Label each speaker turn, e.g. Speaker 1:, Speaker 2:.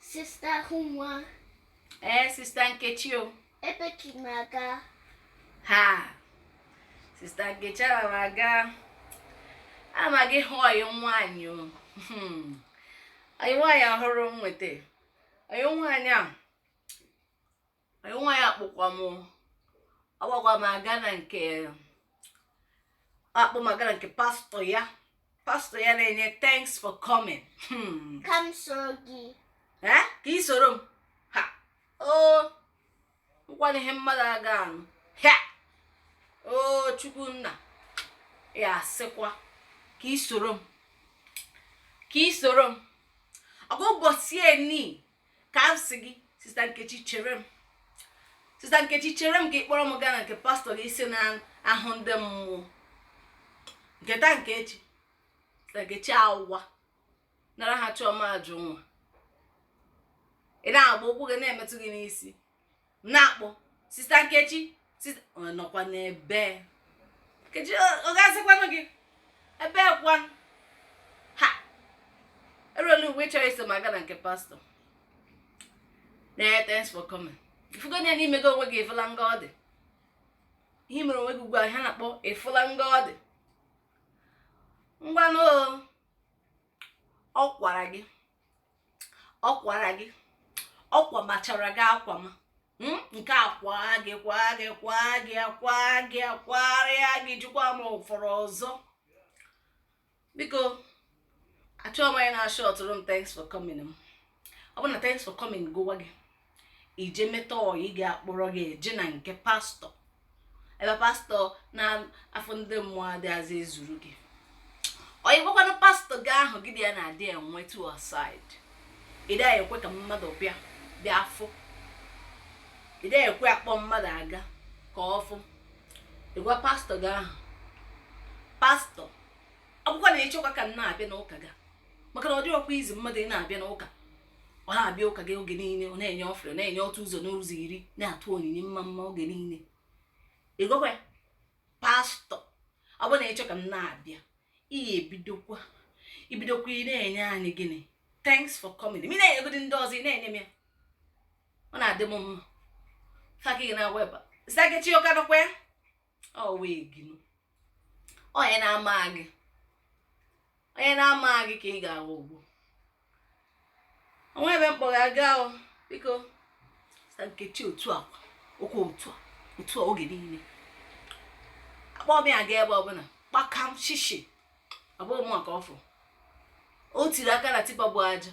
Speaker 1: Sista Ahụnwa. Ee,
Speaker 2: sista Nkechi o. Ebe ka ị na-aga?
Speaker 1: Ha!
Speaker 2: Sista Nkechi ana m aga. Ana m aga ịhụ ọyị m nwaanyị o. Hmm. Ọyị nwaanyị ọhụrụ m nwete. Ọyị nwaanyị a. nwa ya kpọkwa m ọ kpọkwa m aga na nke akpọ m aga na nke pastọ ya pastọ ya na-enye thanks for coming Hmm. ka m
Speaker 1: soro gị Eh? ka ị
Speaker 2: soro m ha o nwekwana ihe mmadụ aga anụ ha o chukwu nna ya sịkwa ka ị soro m ka ị soro m ọ kwa ụbọchị eni ka m sị gị sista nkechi chere m sista nkechi chere m ka ị kpọrọ m gaa na nke pastọ gị ị sị na-ahụ ndị mmụọ nke taa nke echi sista nkechi awụwa nara ha chọọ ma ajụ nwa ị na-agba ụkwụ gị na-emetụ gị n'isi na-akpọ sista nkechi nọkwa n'ebe nkechi ọ ga-azakwanụ gị ebe kwa ha erule ugbu a ị chọrọ iso m aga na nke pastọ thanks for coming ị fụgo na n'ime gị onwe gị efula nga ọ dị ihe mere onwe gị ugbu a ha na-akpọ efula nga ọ dị ngwanụ ọ kwara gị ọ kwara gị ọ kwamachara gị akwama hmm? nke a kwaa gị kwaa gị kwaa gị kwaa gị kwarịa gị jikwa m ụfọrọ ọzọ biko achọghị m onye na-ashọtụrụ m thanks for coming m ọ bụ na thanks for coming gụwa gị i jee meta ọyị ga-akpọrọ gị eje na nke pastọ ebe pastọ na-afụ ndị mmụọ adịghịzi ezuru gị onye gwakwanụ pastọ gị ahụ gị na ya na-adị enwe two aside ị dịghị ekwe ka mmadụ bịa afụ ị dịghị ekwe akpọ mmadụ aga ka ọ fụ ị gwa pastọ gị ahụ pastọ ọ bụkwa na ị chọkwa ka m na-abịa n'ụka gị maka na ọ dịghịkwa easy mmadụ ị na-abịa n'ụka ọ na-abịa ụka gị oge niile ọ na-enye offering na-enye otu ụzọ n'ụzọ iri na-atụ onyinye mmamma oge niile ị gwakwa ya pastọ ọ bụrụ na ị chọ ka m na-abịa ị ya-ebidokwa i bidokwa ị na-enye anyị gịnị thanks for coming ma ị na-enyegodi ndị ọzọ ị na-enye m ya ọ na-adị m mma fact gị nọwa ebe a sista nkechi ụka dọkwa ya onye na-ama gị onye na-ama gị ka ị ga-aghọgbu o nwe ebe m kpọrọ aga ahụ biko sister nkechi otu a okwu otu a otu a oge niile akpọ m ya aga ebe ọbụla kpakam shishi abụọ mụ maka ọfụ o tiri aka na tipa bu aja